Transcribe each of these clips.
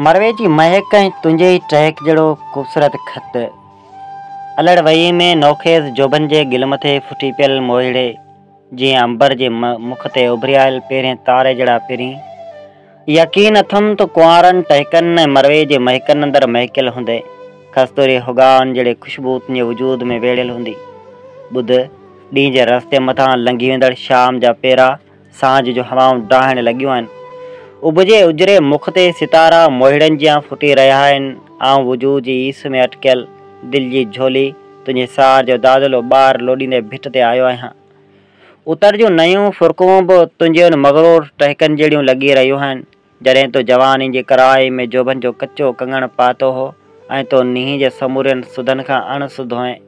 مروي جي مهڪ ۽ تنهنجي ئي ٽهڪ جهڙو خوبصورت خط. الهڙ وهيء ۾ نوخيز جوڀن جي گل مٿي ڦٽي پيل موهيڙي جيئن عنبر جي مک تي اڀريائل پهرين تاري جهڙا پرين. يقين اٿم تون ڪنوارن ٽهڪن ۽ مروي جي مهڪن اندر مهڪيل هوندين. کستوري هوڳائن جهڙي خوشبو تنهنجي وجود ۾ ويڙهيل هوندي. ٻڌ، ڏينهن جي رستي مٿان لنگهي ويندڙ شام جا پيرا. سانجهه جون هوائون ڊاهڻ لڳيون آهن. اڀجي اجري مک تي ستارا موهيڙن جيان ڦٽي رهيا آهن. آئون وجود جي ايس ۾ اٽڪيل، دل جي جهولي، تنهنجي سار جو دادلو ٻار لوڏيندي ڀٽ تي آيو آهيان. اتر جون نيون ڦرڪون به تنهنجي ان مغرور ٽهڪن جهڙيون لڳي رهيون آهن. جڏهن تو جواني جي ڪرائي ۾ جوڀن جو ڪچو ڪنگڻ پاتو هو ۽ تو نينهن جي سمورين سڌن کان اڻ سڌ هئين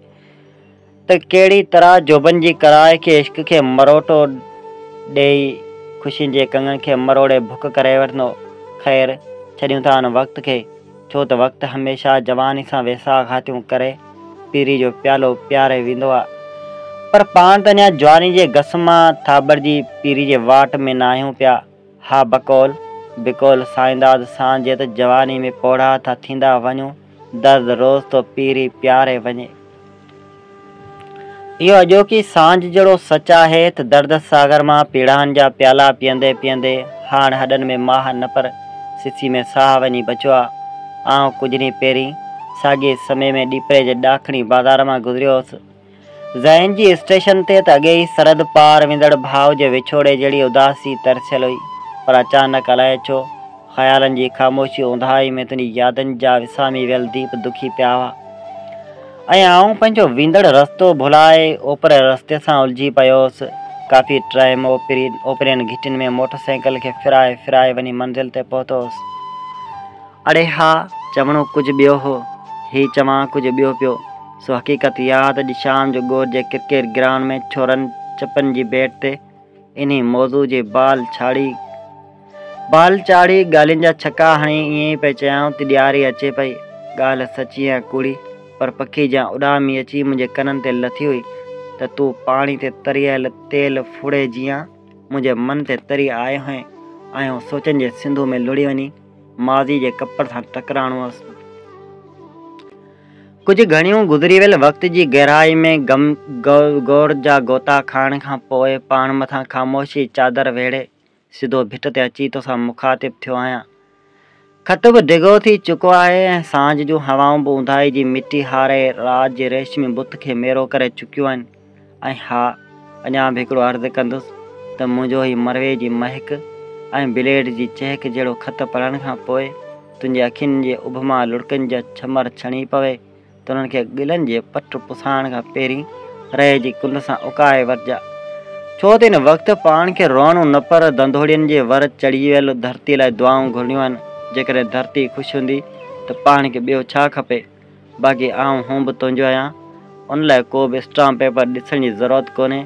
ته ڪهڙي طرح جوڀن جي ڪرائي کي عشق کي مروٽو ڏيئي خوشين جي ڪنگڻ کي مروڙي ڀڪ ڪري وٺندو. خير، ڇڏيون ٿا ان وقت کي، ڇو ته وقت هميشه جواني سان ويساهه گهاتيون ڪري پيري جو پيالو پياري ويندو آ. پر پاڻ ته اڃا جواني جي گس مان ٿاٻڙجي پيري جي واٽ ۾ ناهيون پيا. ها بقول بقول سائينداد سان جيت جواني ۾ پوڙها ٿا ٿيندا وڃون درد روز ٿو پيري پياري وڃي اهو اڄوڪي سانجهه جهڙو سچ آهي ته درد ساغر مان پيڙاهن جا پيالا پيئندي پيئندي هاڻ هڏن ۾ ماهه نه پر سسي ۾ ساهه وڃي بچو آ آئون ڪجهه ڏينهن پهرين ساڳئي سمي ۾ ڏيپري جي ڏاکڻي بازار مان گذريو هوس ذهن جي اسٽيشن تي ته اڳي ئي سرحد پار ويندڙ ڀاء جي وڇوڙي جهڙي اداسي ترسيل هئي، پر اچانڪ الائي ڇو، خيالن جي خاموشي اونداهي ۾ تنهنجي يادن جا وسامي ويل ديپ دکي پيا هئا ۽ آئون پنهنجو ويندڙ رستو ڀلائي اوپرئين رستي سان الجهي پيو هوس. ڪافي ٽائيم اوپرين گهٽين ۾ موٽر سائيڪل کي ڦيرائي ڦيرائي وڃي منزل تي پهتو هوس. اڙي ها، چوڻو ڪجهه ٻيو هو، هي چوان ڪجهه ٻيو پيو. سو حقيقت اها آهي ته اڄ شام جو گور جي ڪرڪيٽ گرائونڊ ۾ ڇورن چپن جي بيٽ تي انهي موضوع جي بال ڇاڙهي بال چاڙهي ڳالهين جا ڇڪا هڻي ائين ئي پئي چيائون ته ڏياري اچي پئي ڳالهه سچي يا ڪوڙي پر پکي جيان اڏامي اچي منهنجي ڪنن تي لٿي هئي ته تون پاڻي تي تريل تيل ڦڙي جيان منهنجي من تي تري آئي هئين آئون سوچن جي سنڌو ۾ لڙهي وڃي ماضي جي ڪپڙ سان ٽڪرائڻو هوس. ڪجهه گهڻيون گذري ويل وقت جي گهرائي ۾ گم گور جا غوطا کائڻ کان پوء پاڻ مٿان خاموشيء جي چادر ويڙهي سڌو ڀٽ تي اچي توسان مخاطب ٿيو آهيان. خط به ڊگهو ٿي چڪو آهي ۽ سانجهه جون هوائون به اونداهي جي مٽي هاري رات جي ريشمي بت کي ميرو ڪري چڪيون آهن. ۽ ها، اڃا به هڪڙو عرض ڪندس ته منهنجو هي مروي جي مهڪ ۽ بليڊ جي چهڪ جهڙو خط پڙهڻ کان پوء تنهنجي اکين جي اڀ مان لڙڪن جا ڇمر ڇڻي پوي ته انهن کي گلن جي پٽ پسائڻ کان پهرين رئي جي ڪنڊ سان اڪائي ورجاء ڇو ته ان وقت پاڻ کي روئڻو نه پر ڌنڌوڙين جي ور چڙهي ويل ڌرتي لاء دعائون گهرڻيون آهن. جيڪڏهن ڌرتي خوش هوندي ته پاڻ کي ٻيو ڇا کپي؟ باقي آئون هون به تنهنجو آهيان، ان لاء ڪو به اسٽامپ پيپر ڏسڻ جي ضرورت ڪونهي،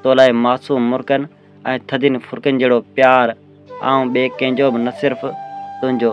تو لاء معصوم مرڪن ۽ ٿڌين ڦرڪن جهڙو پيار آئون ٻئي ڪنهن جو به نه صرف تنهنجو.